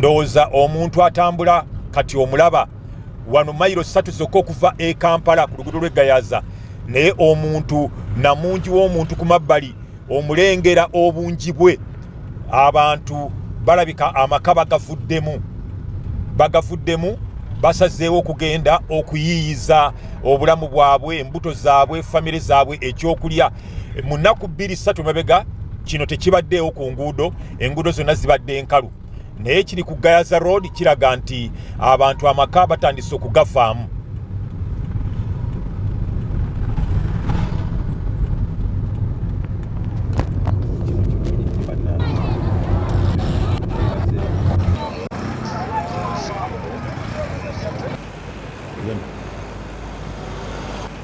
ndowooza omuntu atambula kati omulaba wano mayiro satu zokka okuva e kampala ku lugudo lw'eggayaza naye omuntu namungi w'omuntu ku mabbali omulengera obungi bwe abantu balabika amaka bagavuddemu bagavuddemu basazeewo okugenda okuyiiyiza obulamu bwabwe embuto zaabwe famire zaabwe ekyokulya mu nnaku bbiri ssatu mabega kino tekibaddeewo ku nguudo enguudo zonna zibadde nkalu naye kiri ku gayaza road kiraga nti abantu amaka batandise okugavaamu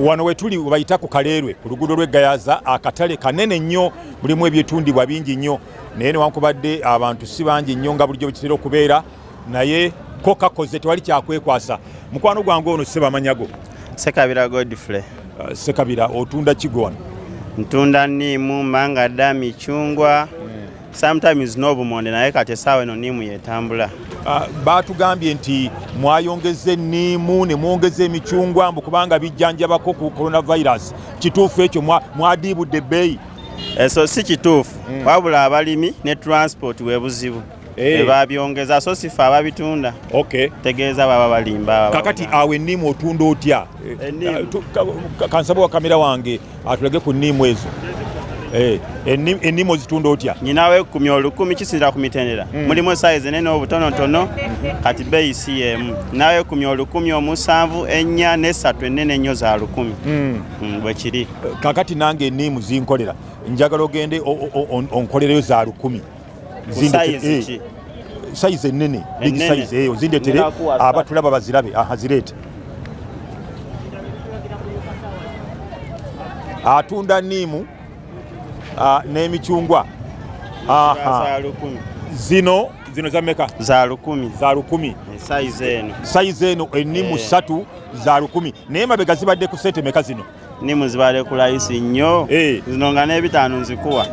wano wetuli webayita ku kaleerwe ku luguudo lw'eggayaza akatale kanene nnyo mulimu ebyetundibwa bingi nnyo naye newankubadde abantu si bangi nnyo nga bulijjo bwekitera okubeera naye ko kakoze tewali kyakwekwasa mukwano gwange ono sebamanyago sekabira godfrey uh, sekabira otunda kigona ntunda niimu mangada micungwa mm. sometimes n'obumonde naye kati esaawa eno niimu yetambula uh, baatugambye nti mwayongeza enniimu ne mwongeza emicungwa mbu kubanga bijjanjabako ku coronavirus kituufu ekyo mwadiibudde ebbeeyi eso eh, si kituufu mm. wabula abalimi ne transport webuzibu Eh. babyongeza so sifa ababitunda okay. tegeeza baba balimba kakati awo enniimu otunda otya eh, kansaba wa kamera wange atulage ku nniimu ezo eh, ennimu ozitunda otya nyinawo ekumi olukumi kisinzira ku mitendera hmm. mulimu esayizi enene obutonotono kati beeyi si yeemu nawo ekumi olukumi omusanvu ennya nesatu enene ennyo za lukumi hmm. Hmm, bwekiri kakati nange enniimu zinkolera njagala ogende onkolereyo za lukumi eh, sayizi ennene big sayizi eyo eh, zindetere abatulaba bazirabe azireete atunda niimu ah, n'emicungwa zino zino za meka za lukumi za lukumi eh, sayizi eno sayizi eno ennimu eh. ssatu za lukumi naye mabega zibadde ku sente meka zino nimu zibale kulayisi nnyo eh. zino nga n'ebitaano nzikuwa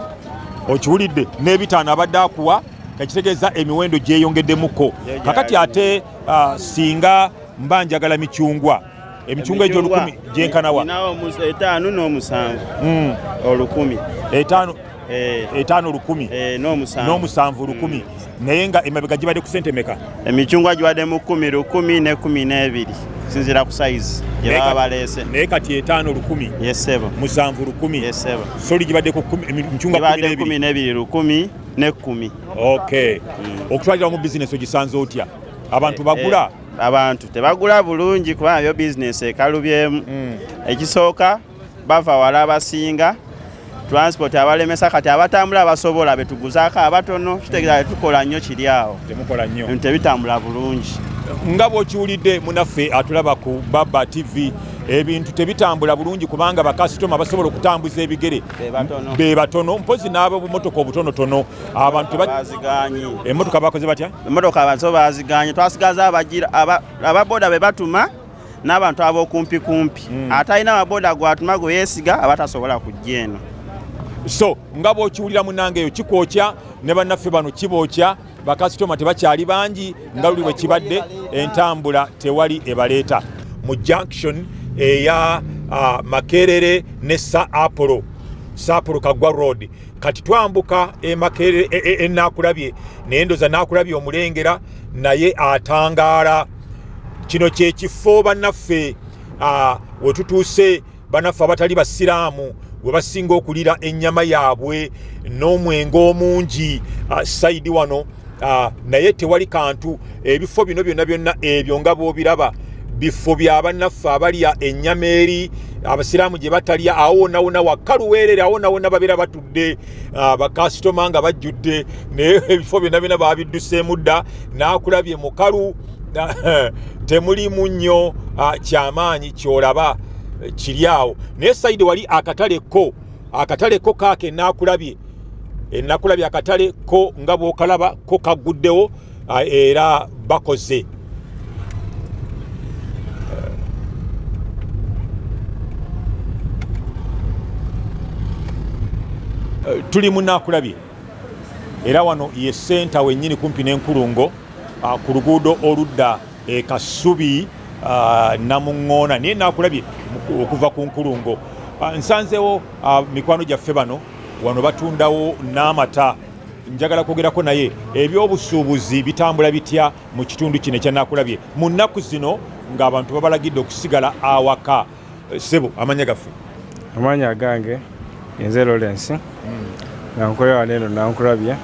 okiwulidde n'ebitaano abadde akuwa ekitegeeza emiwendo gyeyongeddemuko kakati ate ah, singa mba njagala micungwa emicungwa egyo olukumi gyenkanawa etaano n'omusanvu hmm. olukumi etaano eh. etaano lukumi eh, n'omusanvu lukumi hmm. naye nga emabega gibadde ku sente meka emicungwa gibadde mu kumi lukumi ne kumi n'ebiri sinzira ku sayizi gyebaba baleese naye kati etaano lukumi yesebo musanvu lukumi yesebo soli gibadde ku micungwa kumi n'ebiri lukumi ne kumi okay hmm. okutwalira mu bizinesi ogisanze otya abantu eh, bagula abantu tebagula bulungi kubanga yo bizinesi ekalubyemu hmm. ekisooka bava wala abasinga transport abalemesa kati abatambula abasobola betuguzaako abatono kitegeeza tukola nnyo kiri awo tebitambula bulungi nga bwokiwulidde munaffe atulaba ku baba tv ebintu tebitambula bulungi kubanga bakasitoma basobola okutambuza ebigere be batono mpozi n'abo bumotoka obutonotono abantu emotoka bakoze batya emotoka bazo baziganye twasigaza ababoda be batuma n'abantu ab'okumpi kumpi hmm. ate alina amaboda gwatuma gwe yeesiga aba tasobola kujja eno so nga bw'okiwulira munange eyo kikwokya ne bannaffe bano kibookya bakasitoma tebakyali bangi nga luli bwe kibadde entambula tewali ebaleeta mu junction eya uh, makerere ne sa apolo sa apolo kagwa road kati twambuka emakere enakulabye e, e, e, naye ndoza nakulabye omulengera naye atangaala kino kyekifo banaffe wetutuuse banaffe abatali basiraamu we basinga okulira ennyama yaabwe n'omwenge omungi sayidi wano Ah, naye tewali kantu ebifo bino byonna byonna ebyo nga bwobiraba bifo bya bannaffe abalya ennyama eri abasiraamu gye batalya awo wonna wonna wakkaluweerere awo wonna wonna babeera batudde ah, bakasitoma nga bajjudde naye ebifo byonna byonna babidduseemu dda n'akulabye mukalu ah, temulimu nnyo kyamaanyi kyolaba kiri awo naye sayidi wali akatale ko akatale ko kaake enaakulabye enakulabye akatale ko nga bwokalaba ko kagguddewo era bakoze tuli munakulabye era wano ye senta wenyini kumpi n'enkulungo ku luguudo oludda e Kasubi uh, Namuŋŋoona naye nakulabye okuva ku nkulungo uh, nsanzewo uh, mikwano gyaffe bano wano batundawo n'amata njagala kwogerako naye ebyobusuubuzi bitambula bitya mu kitundu kino ekyanakulabye mu nnaku zino ng'abantu babalagidde okusigala awaka Eh, sebo amanya gaffe amanya agange yenze Lawrence hmm. nga nkolera wano eno nankulabye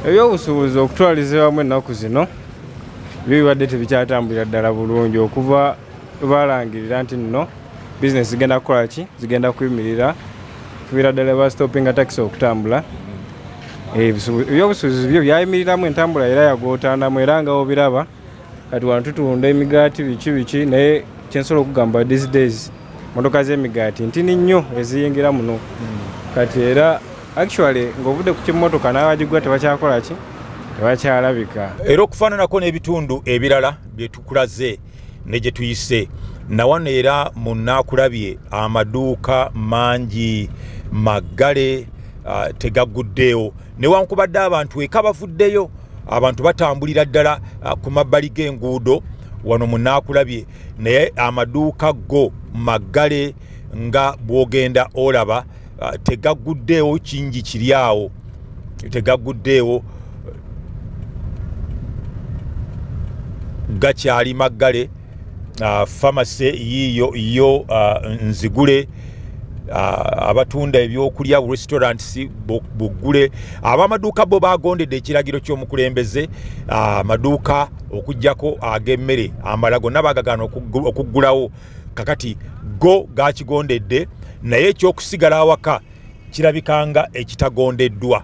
ebyobusuubuzi okutwaliza wamu ennaku zino byo bibadde tebikyatambulira ddala bulungi okuva balangirira nti nno bizinesi zigenda kukola ki zigenda kuyimirira kubira ddala bastopinga takisi okutambula hmm. eh, ebyobusuubuzi byo byayimiriramu entambula era yagootaanamu era nga obiraba kati wano tutunda emigaati biki biki naye kyensobola okugamba these days motoka z'emigaati ntini nnyo eziyingira muno hmm. kati era actually ng'ovudde ku kimotoka n'abagigwa tebakyakola ki tebakyalabika era okufaananako n'ebitundu ebirala bye tukulaze ne gye tuyise nawano era mu naakulabye amaduuka mangi maggale uh, tegaguddeewo newankubadde abantu eka bavuddeyo abantu batambulira ddala ah, ku mabbali g'enguudo wano munaakulabye naye amaduuka go maggale nga bwogenda olaba ah, tegaguddeewo kingi kiri awo tegaguddeewo gakyali maggale uh, famase yiyo yo uh, nzigule uh, abatunda ebyokulya restaurants buggule abamaduuka bo bagondedde ekiragiro ky'omukulembeze amaduuka uh, okugjako ag'emmere uh, amala gonna bagagaana okuggulawo kakati go gakigondedde naye ekyokusigala awaka kirabikanga ekitagondeddwa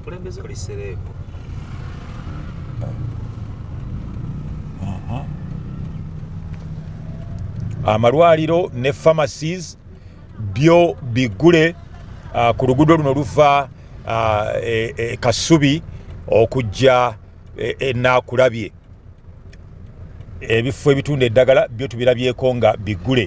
okulembeza oli sereebu amalwaliro ne pharmacies byo bigule uh, ku luguudo luno luva uh, e, e, kasubi okujja enaakulabye e, ebifo ebitunda eddagala byo tubirabyeko nga bigule